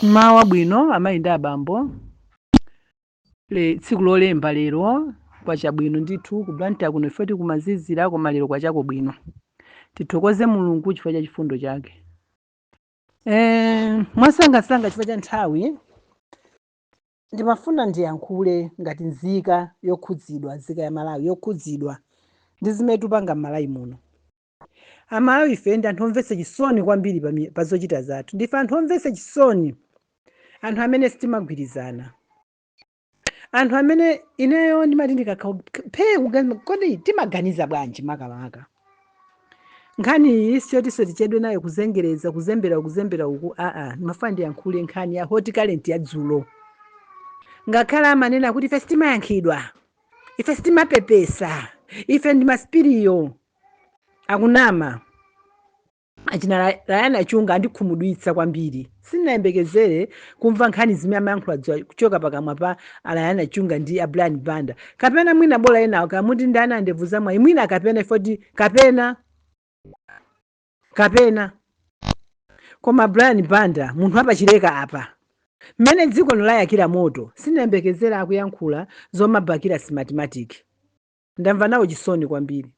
mmawa wabwino amayi ndi abambo le tsiku lolemba lero kwacha bwino ndithu ku blantyre kuno ife tikumazizira koma lero kwachako bwino tithokoze mulungu chifukwa cha chifundo chake eh, mwasangasanga chifukwa cha nthawi ndimafuna ndiyankhule ngati nzika yokhudzidwa nzika ya malawi yokhudzidwa ndi zimene tupanga m'malawi muno amalawi ife ndi anthu omvetsa chisoni kwambiri pami- pa zochita zathu ndife anthu omvetsa chisoni anthu amene sitimagwirizana anthu amene ineyo ndimati ndikakhala phee kuganiza kodi timaganiza bwanji makamaka nkhani iyi siyotinso tichedwe nayo kuzengereza kuzembera kuzembera uku aa ndimafuna ndiyankhule nkhani ya hot current ya dzulo ngakhale amanena kuti ife sitimayankhidwa ife sitimapepesa ife ndi masupiriyo akunama achina Ra- rayani achunga andikhumudwitsa kwambiri sindinayembekezere kumva nkhani zimene amayankhula dzulo kuchoka pakamwa pa arayani achunga ndi a brian banda kapena mwina bola enawo kamuti ndi anandevu zamwayi mwina kapena ifoti kapena kapena koma brian banda munthu opachileka apa mmene dziko lino layakira moto sindinayembekezere akuyankhula zomabakira smartmatic ndamva nawo chisoni kwambiri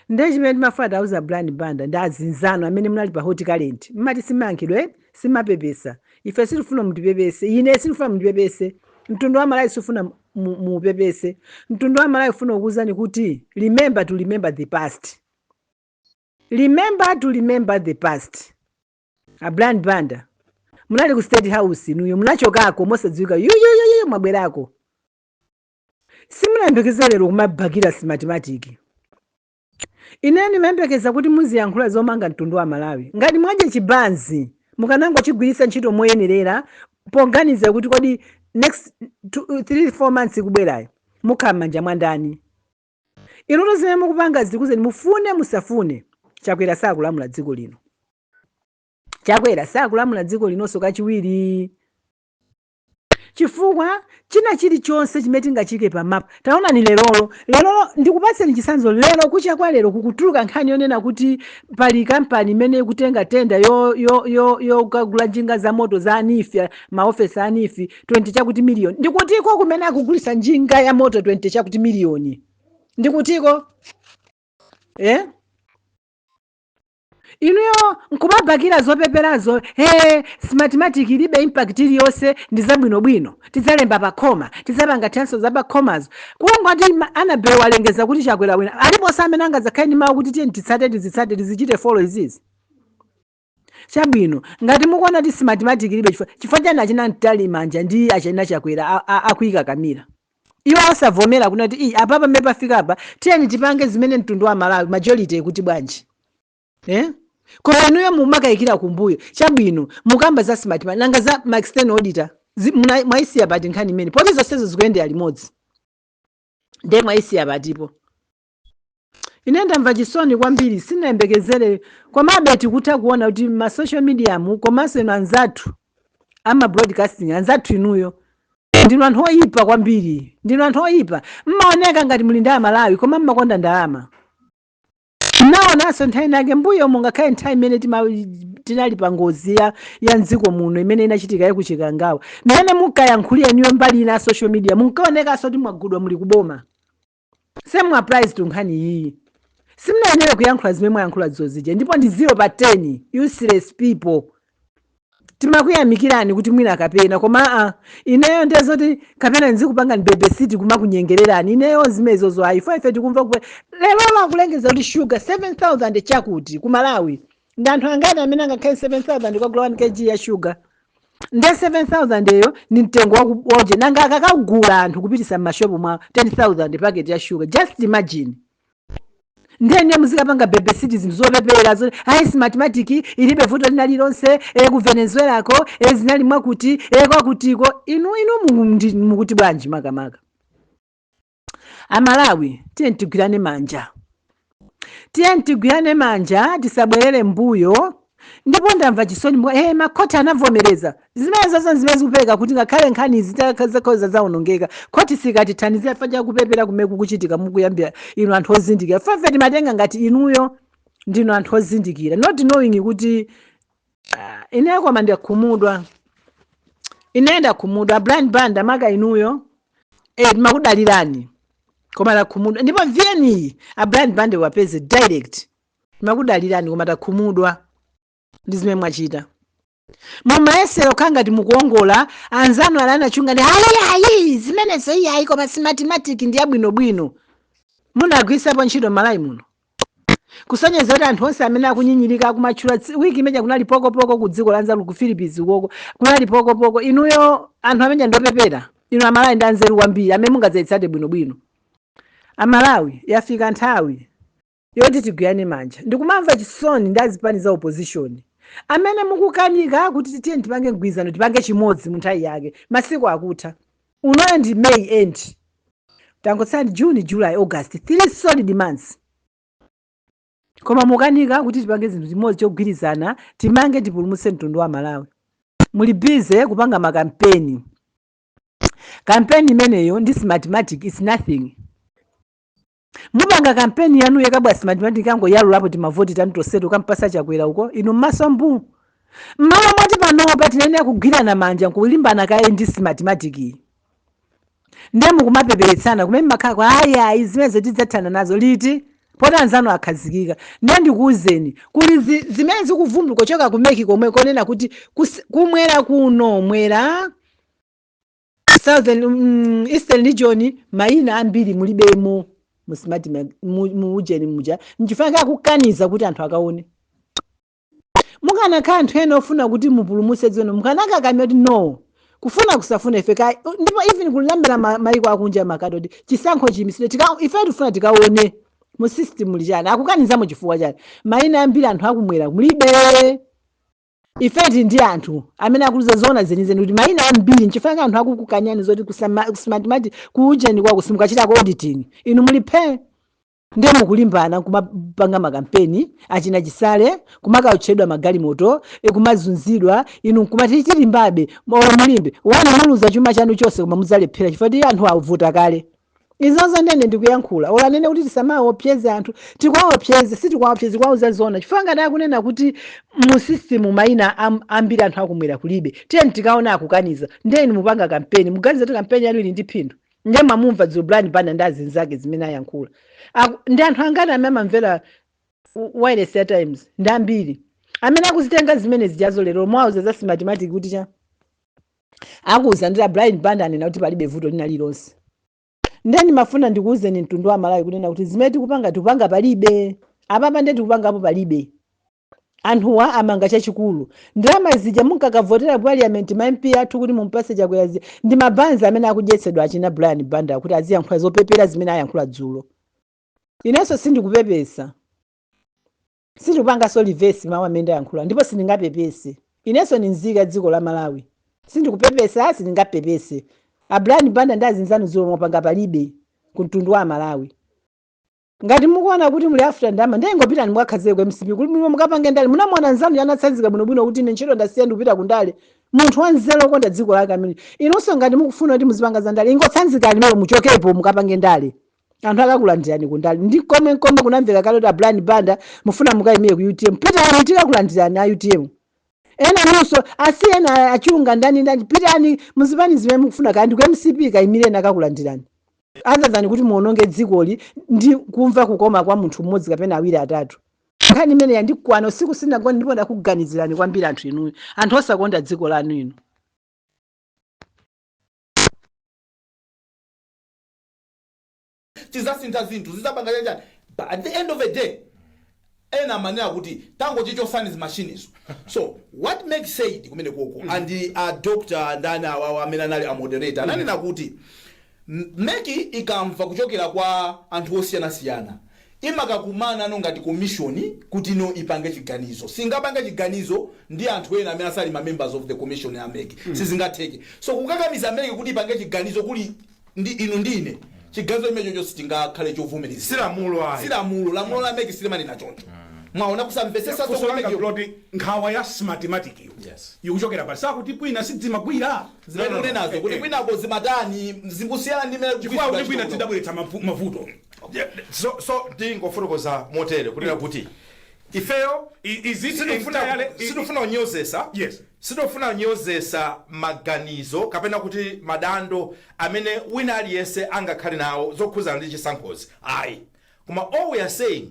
ndiye chimene timafuna tiwauze a brian banda ndi azinzano amene munali pa hot current mmati simayankhidwe simapepesa ife sitifuna mutipepese ife sitifuna mutipepese mtundu wa malawi sifuna mu- mu- muupepese mtundu wa malawi ufuna kukuwuzani kuti remember to remember the past remember to remember the past a brian banda munali ku state house inuyo munachokako mosadziwika yuyuyuyu mwabwerako simunayembekeze lero kumabakira smartmatic ine ndimayembekeza kuti muziyankhula zomanga mtundu wa malawi ngati mwadya chibanzi mukanangochigwiritsa ntchito moyenerera poganiza kuti kodi next 3-4 months ikubwerayo mukhala m'manja mwa ndani inuto zimene mukupanga zikuuzeni mufune musafune chakwera sakulamula dziko lino chakwera sakulamula dziko linonso kachiwiri Chifukwa, china chirichonse chimene tingachiike pa mapu. Taonani lerolo, lerolo, ndikupatseni chitsanzo lero, kucha kwa lero, kukutuluka nkhani yonena kuti pali kampani imene ikutenga tender yo, yo, yo, yokagula njinga zamoto za a NEEF, a, maofesi a NEEF, 20 chakuti miliyoni. Ndi kutiko kumene akugulitsa njinga ya moto 20 chakuti miliyoni? Ndi kutiko? Eh? inuyo nkumabakira zopeperazo ee smartmatic ilibe impact iliyonse ndi zabwinobwino tidzalemba pakhoma tidzapanga transfer za pakhomazo kungoti ma- anabel walengeza kuti chakwera wawina aliponso amene angadzakhale ndi mawu kuti tiyeni titsate tizitsate tizichite folo izizi chabwino ngati mukuona kuti smartmatic ilibe chifukwa chifukwa chani achina mtali manja ndi achina chakwera a- a- akuikakamira iwo osavomera kunena kuti ii apa pamene pafikapa tiyeni tipange zimene mtundu wa malawi majority ikuti bwanji eh? koma inuyo mumakayikira kumbuyo chabwino mukamba za smartmatic nanga za ma external auditor zi- muna- mwaisiya pati nkhani imene poti zonsezo zikuyendera limodzi nde mwaisiya patipo ine ndamva chisoni kwambiri sinayembekezere komabe tikutha kuona kuti ma social media mu komanso inu anzathu ama broadcasting anzathu inuyo ndinu anthu oyipa kwambiri ndinu anthu oyipa mmaoneka ngati muli ndi amalawi koma mmakonda ndalama naonanso nthawi nake mbuyo mungakhale nthawi imene tima- tinali pa ngozi ya, ya mdziko muno imene inachitika yakuchikangawa mmene munkayankhulira inuyo mbali ina ya social media munkaonekanso kuti mwagulidwa muli kuboma same applies to nkhani iyiyi simunayenera kuyankhula zimene mwayankhula zozija ndipo ndi 0 pa 10 useless people timakuyamikirani kuti mwina kapena koma aa ineyo ndiye zoti kapena ndizikupangani bebesiti kumakunyengererani ineyo zimezozo ayi ife ife tikumva kupe lero akulengeza kuti shuga 7000 chakuti ku malawi ndi anthu angati amene angakhale 7000 kagula 1 kg ya shuga nde 7000 eyo ni mtengo wakuoda nanga akakagula anthu kupititsa m'mashopu mwa 10000 paketi ya shuga just imagine nde inu muzikapanga bebesiti zinthu zopepera zoti ayi smartmatic ilibe vuto lina lilonse e, ku venezuela ko e, zinali mwakuti e, kwakutiko inu inu mukuti bwanji makamaka amalawi tiyeni tigwirane manja tiyeni tigwirane manja tisabwerere mbuyo ndipo ndamva chisoni mwa eh, makhoti anavomereza zimene zonse zimene zikupereka kuti ngakhale nkhani zitakhala zaonongeka khoti sikatithandiza fa chakupepera kumene kukuchitika mukuyambitsa inu anthu ozindikira ife ife timatenga ngati inuyo ndinu anthu ozindikira not knowing kuti Ah, ine koma ndakhumudwa ine ndakhumudwa brian banda maka inuyo eh, timakudalirani koma takhumudwa ndipo vn iyi a brian banda iwapeze direct timakudalirani koma takhumudwa ndi zimene mwachita mumayesera kukhala ngati mukuongola anzanu ali anachunga ndi ayiayi zimenezo iyayi koma smartmatic ndi yabwinobwino munagwiritsapo ntchito malawi muno kusonyeza kuti anthu onse amene akunyinyirika akumatchula tsi- wiki imene kunali pokopoko ku dziko la nzeru ku philippines ukoko kunali pokopoko inuyo anthu amene ndiopepera inu amalawi ndi anzeru kwambiri amene mungazayitsate bwinobwino amalawi yafika nthawi yoti tigwirane manja ndikumamva chisoni ndi azipani za opposition amene mukukanika kuti tiyeni tipange mgwirizano tipange chimodzi mu nthawi yake masiku akutha Unoyo ndi May end tangotsala ndi June, July, August 3 solid months koma mukanika kuti tipange zinthu chimodzi chogwirizana timange tipulumutse mtundu wa Malawi muli busy kupanga makampeni kampeni imeneyo ndi smartmatic is nothing. mupanga kampeni yanu yakabwa simatimatiki angoyalulapo timavoti tanu tonseto kumpatsa chakwera uko inu mmaso mbuu mmalo moti panopa tinayenera kugwirana manja nkulimbana kaye ndi simatimatikiyi ndiye mukumapepeletsana kumene mmakhala kuti ayi ayi zimenezo tidzathana nazo liti poti anzanu akhazikika ndiye ndikuwuzeni kuli zi- zimene zikuvumbuka kuchoka ku meki komwe konena kuti kus- kumwera kuno mwera Southern, mm, Eastern region mayina ambiri mulibemo mu smart ma- mu mu ujeni muja nchifukwa chake akukaniza kuti anthu akaone mukanakhala anthu ena ofuna kuti mupulumutse dziko mukanakakamira kuti no kufuna kusafuna ife ka ndipo even kulambira ma- mayiko akunja mukati kuti chisankho chiyimitsidwe tika- ife tifuna tikaone mu system muli chani akukanizamo chifukwa chani mayina ambiri a anthu akumwera mulibe Ife tili ndi anthu amene akutiuza zoona zenizeni kuti mayina ambiri nchifukwa chake anthu akukukanyani zoti ku sama- ku smartmatic ku ujeni kwako simukachitako auditing inu muli phee ndiye mukulimbana kumapanga makampeni achina chisale kumakawotchedwa magalimoto e, kumazunzidwa inu nkumati tilimbebe olo mulimbe bwanji muluza chuma chanu chonse koma mudzalephera chifukwa choti anthu avota kale izozo ndiye ine ndikuyankhula olo anene kuti tisamaopseze anthu tikuwaopseza sitikuwaopseza tikuwauza zoona chifukwa ngati akunena kuti mu system maina am- ambiri a anthu akumwera kulibe tiyeni tikaone akukaniza ndiye inu mupanga kampeni muganiza kuti kampeni yanu ili ndi phindu ndiye mwamumva dzulo brian banda ndi azinzake zimene ayankhula Aku- ndi anthu angati amene amamvera w- wireless ya times ndi ambiri amene akuzitenga zimene zijazo lero mwauza za smatimatic kuti cha akuuza ndi a brian banda anena kuti palibe vuto lina lilonse ndiye ndimafuna ndikuuzeni mtundu wa malawi kunena kuti zimene tikupanga tikupanga palibe apapa ndiye tikupangapo palibe anthuwa amanga chachikulu ndalama zija munkakavotera ku parliament ma mp athu kuti mumpatse chakwera zi ndi mabanzi amene akudyetsedwa achina brian banda kuti aziyankhula zopepera zimene ayankhula dzulo inenso sindikupepesa Sindikupangaso reverse mawu amene ndayankhula ndipo sindingapepese. Ineso ndi mzika ya dziko la Malawi. Sindikupepesa sindingapepese. A Brian Banda ndi azinzanu zomwe mwapanga palibe ku mtundu wa amalawi. Ngati mukuona kuti muli after ndalama ndiye ingopitani mukakhazike ku mcp kuti bwino mukapange ndale. Munamuona nzanu uja anatsanzika bwino bwino kuti ine ntchito ndasiya ndikupita ku ndale. Munthu wa nzeru okonda dziko lake amene. Inuso ngati mukufuna kuti muzipanga za ndale ingotsanzikani inuyo muchokepo mukapange ndale. anthu akakulandirani kundale ndi komwe komwe kunamveka kale kuti a brian banda mufuna mukayimire ku utm pitani tikakulandirani a utm ena nonso asi ena achunga ndani ndani pitani muzipanga zimene mukufuna kaya ndi ku mcp kayimireni akakulandirani other than kuti muononge dzikoli ndi kumva kukoma kwa munthu mmodzi kapena awiri atatu nkhani imene yandikwana usiku sindinagone ndipo ndakuganizirani kwambiri anthu inuyo anthu osakonda dziko lanu inu tizasintha zinthu zizapanga chanichani but at the end of the day ena amanena kuti tangochichotsani zimashinizo so what MEC said kumene koko and a doctor ndani awawa amene anali a moderator ananena kuti M- meki ikamva kuchokera kwa anthu osiyanasiyana imakakumanano ngati komishoni kutino ipange chiganizo singapange chiganizo ndi anthu ena amene asali ma members of the commission ya meki sizingatheke so kukakamiza meki kuti ipange chiganizo kuli ndi inu ndi ine chiganizo chimene chocho sichingakhale chovomerezeka si lamulo ayi si lamulo lamulo la meki silimanena choncho mwaona kusamvetsetsa funso langa so funso ndiloti nkhawa ya Smartmatic iyo Yes. ikuchokera pa zakuti kwina sizimagwira zimene mukunenazo kuti kwinako zimatani zikusiyana ndi mmene chifukwa kuti kwina zidabweretsa mavu- mavuto Yeah, so so ndingofotokoza motere kunena kuti ifeyo I- is it entirely- i- sitifuna kunyozesa yes Sitofuna kunyozesa maganizo kapena kuti madando amene wina aliyense angakhale nawo zokhuzana ndi chisankhozi ayi koma all we are saying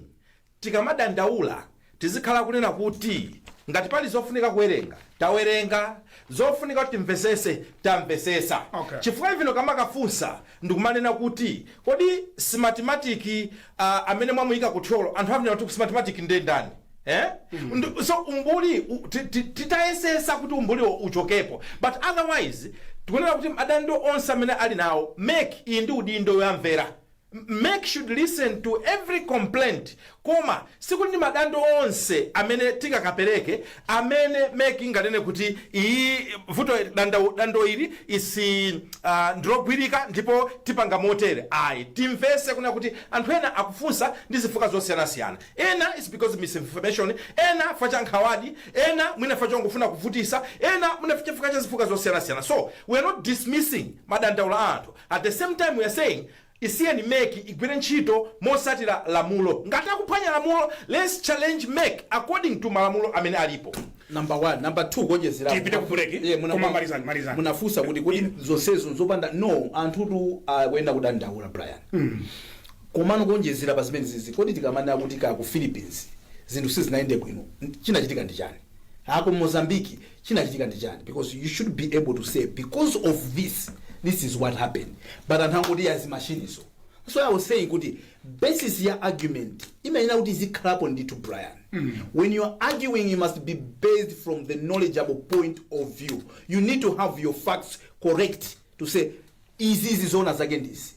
tikamadandaula tizikhala kunena kuti ngati pali zofunika kuwerenga tawerenga zofunika kuti timvesese tamvesesa Okay. chifukwa even ukamakafunsa ndikumanena kuti kodi smartmatic uh, amene mwamuyika ku thyolo anthu akunena kuti smartmatic nde ndani Eh? Ndu- so umbuli u- ti- ti- titayesesa kuti umbuliwo uchokepo but otherwise tikunena kuti madando onse amene ali nawo MEC ili ndi udindo woyamvera M- MEC should listen to every complaint Koma sikuti ndi madando onse amene tingakapereke amene mec inganene kuti iyi vuto dando dando ili is uh, ndilogwirika ndipo tipanga motere ayi timvese kunena kuti anthu ena akufunsa ndi zifukwa zosiyanasiyana ena is because misinformation ena chifukwa cha nkhawadi ena mwina chifukwa chongofuna kuvutisa ena mwina chifukwa cha zifukwa zosiyanasiyana so we are not dismissing madandaulo a anthu at the same time we are saying Isiyeni mec igwire ntchito motsatira lamulo. Ngati akuphwanya lamulo lets challenge mec according to malamulo amene alipo. Number 1 number 2 kuonjezera apo Tipite ku break, Eh, muna- koma malizani, malizani. munafunsa kuti kodi zonsezo zopanda no anthutu akuenda kudandaula brian komano kuonjezera pa zimenezizi kodi tikamanena kuti kaya ku philippines zinthu sizinayende bwino chinachitika ndi chani kaya ku Mozambique chinachitika ndi chani because you should be able to say because of this this is what happened but anthu angoti yazi machine so i was saying kuti basis ya argument imayenera kuti izikhalapo ndithu brian when you are arguing you must be based from the knowledgeable point of view you need to have your facts correct to say izizi zoona zake ndi izi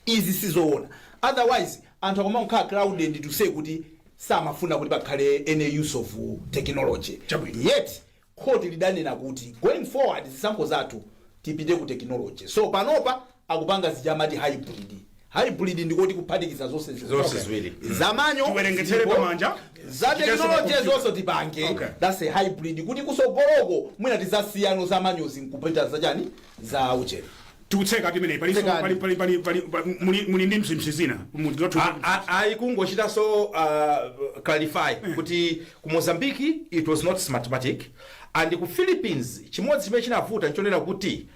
izi sizoona otherwise anthu akamangokhala clouded to say kuti samafuna kuti pakhale any use of technology Chabwino. yet khoti lidanena kuti going forward zisankho zathu tipite ku technology so panopa akupanga zija amati hybrid Hybrid ndiko kuti kuphatikiza zonse ziwiri. Zonse ziwiri. Mm. Za manual. Tiwerengetsere zilipo, pamanja. Za Chitenso technology pakuti. zonse tipange. Okay. That's a hybrid. Kuti kusogoloko mwina tizasiyano za manual zi nkupita za chani? Za uchere. tikutseka timeneyi pali Tsekani. pali pali pali pali pali- muli muli ndi mzimsi zina muli zothu A- a- ayi kungochitanso uh, clarify kuti ku Mozambique it was not smartmatic and ku philippines chimodzi chimene chinavuta nchonena kuti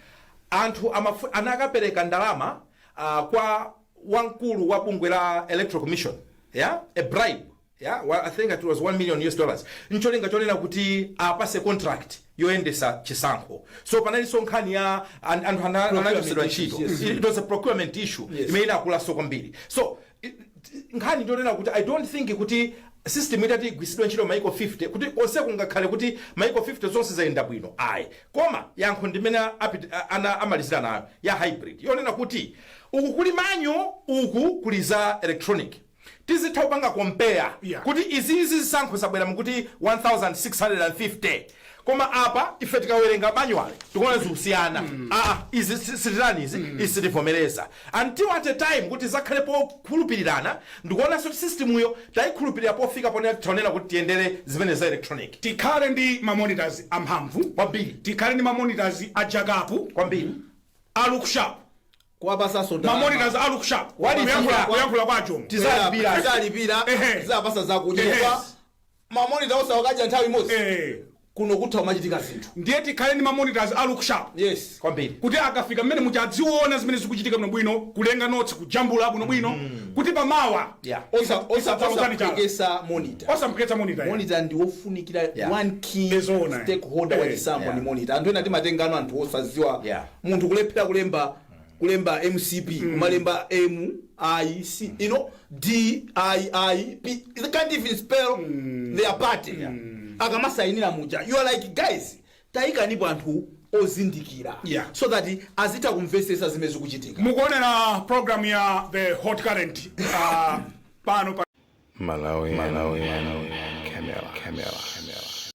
anthu amafu- anakapereka ndalama uh, kwa wamkulu wa bungwe la electoral commission yeah? a bribe yeah? well, i think it was 1 million us dollars ncholinga chonena kuti apase contract yoyendesa chisankho so panalinso nkhani ya an- anthu ana- anachosedwa ntchito Procurement issues, yes. it was a procurement issue Yes. imene inakulaso kwambiri so nkhani ndiyonena kuti i dont think kuti system itagwiritsidwa ntchito maiko 50 kuti konseko kungakhale kuti maiko 50 zonse zayenda bwino ayi koma yankho ndi imene apit- a- ana amalizira nayo ya hybrid yonena kuti uku kuli manual uku kuli za electronic tizitha kupanga compare Yeah. kuti izizi zisankho zabwera mukuti 1650 Koma apa ife tikawerenga manual tikuona zikusiyana aa izi si- sitirani izi izi sitivomereza until at a time kuti zakhalepo kukhulupirirana ndikuonanso kuti systemyo tayikhulupirira pofika ponena tionena kuti tiyendere zimene za electronic tikhale ndi ma monitors amphamvu Kwambiri. tikhale ndi ma monitors a jakapu kwambiri a looksharp kuwapasanso ma ndalama. monitors a looksharp Walipira. kuyankhula kuyankhula kwa ajomo Tiza- Tizalipira. Tizalipira, Ehe. tizapasa zakudya Yes. kwa Ma monitor osa wakadya nthawi imodzi Eh. kuno kutha kumachitika zinthu ndiye tikhale ndi mamonitors a look sharp yes kwambiri kuti akafika mmene muja adziona zimene zikuchitika bwinobwino kulemba notes kujambula bwinobwino kuti pamawa yeah osa osa Tisadzalozane chala. osaphekesa monitor osampheketsa monitor ya. monitor ndi wofunikira Yeah. one key Ndizoona, eh. stakeholder wa Eh, chisankho yeah. ndi monitor anthu ena timatengano anthu osadziwa Yeah. munthu kulephera kulemba kulemba mcp kumalemba m i c you know d p p they can't even spell their party akamasainira muja you are like guys tayikanipo anthu ozindikira Yeah. so that azitha kumvesesa zimene zikuchitika mukuonera program ya the hot current uh, pano pa Malawi, Malawi, Malawi, Camera, Camera, Camera.